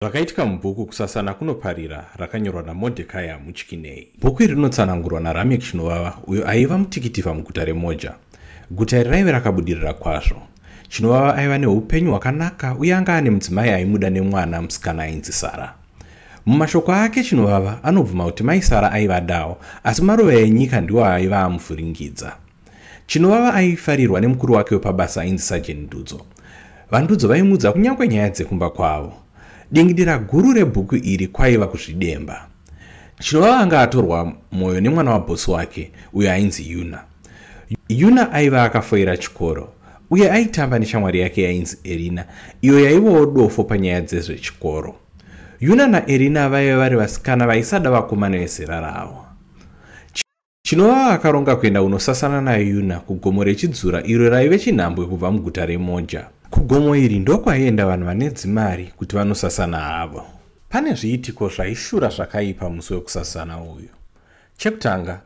Zvakaitika mubhuku Kusasana Kunoparira rakanyorwa naMordekaya Muchikinei. Bhuku iri rinotsanangurwa naRamek Chinovava uyo aiva mutikitivha muguta reMoja. Guta iri raive rakabudirira kwazvo. Chinovava aiva neupenyu hwakanaka uye anga ane mudzimai aimuda nemwana musikana ainzi Sara. Mumashoko ake Chinovava anobvuma kuti mai Sara aivadawo asi maruva enyika ndiwo aiva amuvhuringidza. Chinovava aifarirwa nemukuru wake wepabasa ainzi Sajeni Ndudzo. VaNdudzo vaimuudza kunyange nyaya dzekumba kwavo. Dingidira guru rebhuku iri kwaiva kuzvidemba. Chinovava anga atorwa mwoyo nemwana wabhosi wake uyo ainzi Yuna. Yuna aiva akafoira chikoro uye aitamba neshamwari yake yainzi Erina iyo yaivawo dofo panyaya dzezvechikoro. Yuna naErina vaive vari vasikana vaisada vakomana vezera ravo. Chinovava akaronga kuenda kunosasana naYuna kugomo rechidzura iro raive chinhambwe kubva muguta reMoja. Kugomo iri ndokwaienda vanhu vane dzimari kuti vanosasana havo. Pane zviitiko zvaishura zvakaipa musi wekusasana uyu. Chekutanga,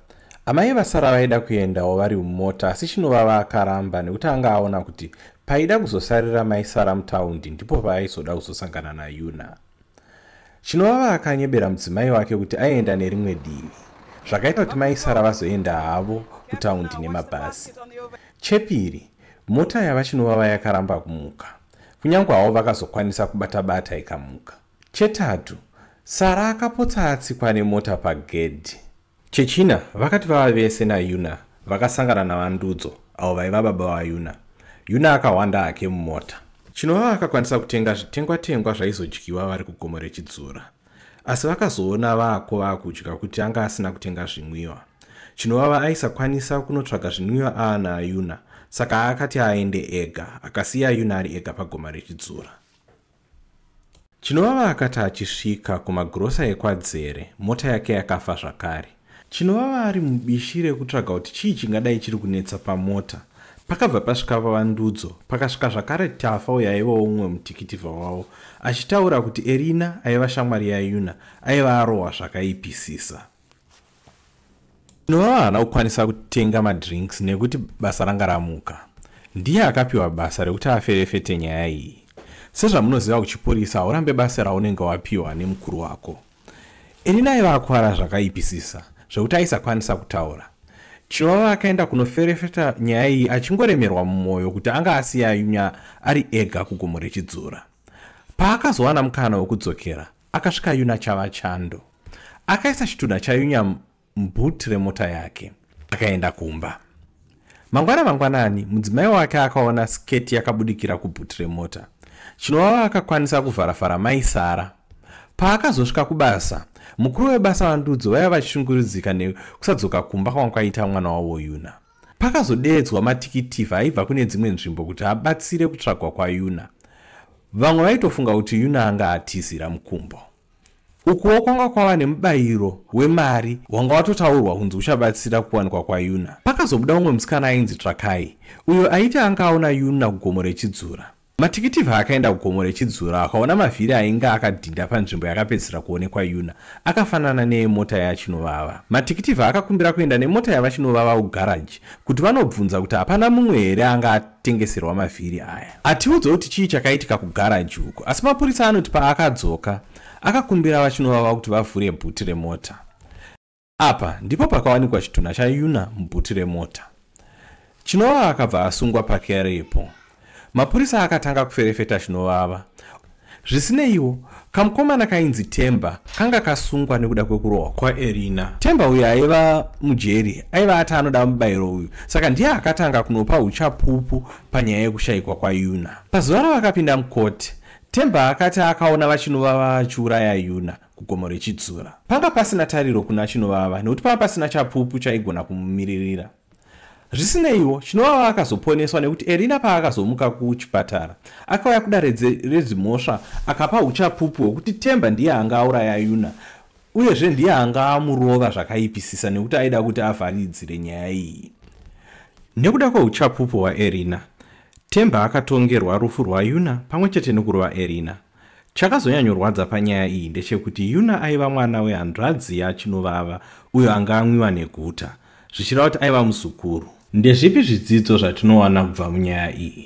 amai vasara vaida kuendawo vari mumota asi Chinovava akaramba nekuti anga aona kuti paida kuzosarira mai Sara mutaundi ndipo paaizoda kuzosangana naYuna. chinovava akanyebera mudzimai wake kuti aienda nerimwe divi zvakaita kuti mai sara vazoenda havo kutaundi nemabhazi chepiri mota yava chinovava yakaramba kumuka kunyange havo vakazokwanisa kubata bata ikamuka chetatu sara akapotsa atsikwa nemota pagedhi Chechina, vakati vava vese naYuna vakasangana naVaNdudzo, avo vaiva baba vaYuna. Yuna akahwanda hake mumota. Chinova vakakwanisa kutenga zvitengwa-tengwa zvaizodyiwa vari kugomo rechidzura. Asi vakazoona vako vakudya kuti anga asina kutenga zvinwiwa. Chinovava aisakwanisa kunotsvaga zvinwiwa aana ayuna, saka akati aende ega, akasiya ayuna ari ega pagoma rechidzura. Chinovava akati achisvika kumagirosa ekwadzere, mota yake yakafa zvakare. Chinovava ari mubishi rekutsvaga kuti chii chingadai chiri kunetsa pamota. Pakabva pasvika vavandudzo, pakasvika zvakare Tafa uyo aivawo mumwe mutikitivha wavo, achitaura kuti Erina aiva shamwari yaYuna aiva arohwa zvakaipisisa. Ndinoa haana kukwanisa kutenga madrinks nekuti basa ranga ramuka. Ndiye akapiwa basa rekuti aferefete nyaya iyi. Sezvamunoziva kuchipurisa haurambe basa raunenge wapiwa nemukuru wako. Elina aiva akwara zvakaipisisa zvekuti aisakwanisa kutaura. Chivava akaenda kunoferefeta nyaya iyi achingoremerwa mumwoyo kuti anga asiya Yunya ari ega kugomo rechidzura. Paakazowana mukana wekudzokera, Akasvika Yuna chava chando. Akaisa chitunha chaYunya mubhuti remota yake. Akaenda kumba. Mangwana mangwanani, mudzimai wake akaona sketi yakabudikira kubhuti remota. Chinovava akakwanisa kuvharavhara mai Sara. Paakazosvika kubasa, mukuru webasa vandudzo vaiva vachishungurudzika nekusadzoka kumba kwanga kwaita mwana wavo Yuna. Pakazodeedzwa matikitivha aibva kune dzimwe nzvimbo kuti abatsire kutsvagwa kwaYuna. Vamwe vaitofunga kuti Yuna anga atizira mukumbo. Ukuwo kwanga kwava nemubayiro wemari wanga watotaurwa kunzi uchabatsira kuwanikwa kwaYuna. Pakazobuda umwe musikana ainzi Tsvakai, uyo aiti anga aona Yuna kugomo rechidzura. Matikitivha akaenda kugomo rechidzura akaona mavhiri ainge akadhinda panzvimbo yakapedzisira kuonekwa Yuna akafanana neemota yaChinovava. Matikitivha akakumbira kuenda nemota yavaChinovava kugaraji kuti vanobvunza kuti hapana mumwe here anga atengeserwa mavhiri aya. Atiudza kuti chii chakaitika kugaraji uku asi mapurisa anoti paakadzoka akakumbira vaChinovava kuti vavhure bhuti remota. Apa ndipo pakawanikwa chitunha chaYuna mubhuti remota. Chinovava akabva asungwa pakeyari ipo. Mapurisa akatanga kuferefeta Chinovava. Zvisineiwo, kamukomana kainzi Temba kanga kasungwa nekuda kwekurohwa kwaErina. Temba uyu aiva mujeri aiva ati anoda mubayiro uyu, saka ndiye akatanga kunopa uchapupu panyaya yekushayikwa kwaYuna. Pazuva ravakapinda mukoti, Temba akati akaona vaChinovava vachiuraya Yuna. kugomo rechidzura panga pasina tariro kuna chinovava nekuti panga pasina chapupu chaigona kumumiririra zvisineiwo chinovava akazoponeswa nekuti erina paakazomuka kuchipatara akauya kudare redzimhosva akapa uchapupu hwekuti temba ndiye anga auraya yuna uyezve ndiye anga amurova zvakaipisisa nekuti aida kuti avharidzire nyaya iyi nekuda kweuchapupu hwaerina temba akatongerwa rufu rwayuna pamwe chete nekurova erina Chakazonyanyorwadza panyaya iyi ndechekuti Yuna aiva mwana wehanzvadzi yaChinovava uyo anga amwiwa neguta, zvichireva kuti aiva muzukuru. Ndezvipi zvidzidzo zvatinowana kubva munyaya iyi?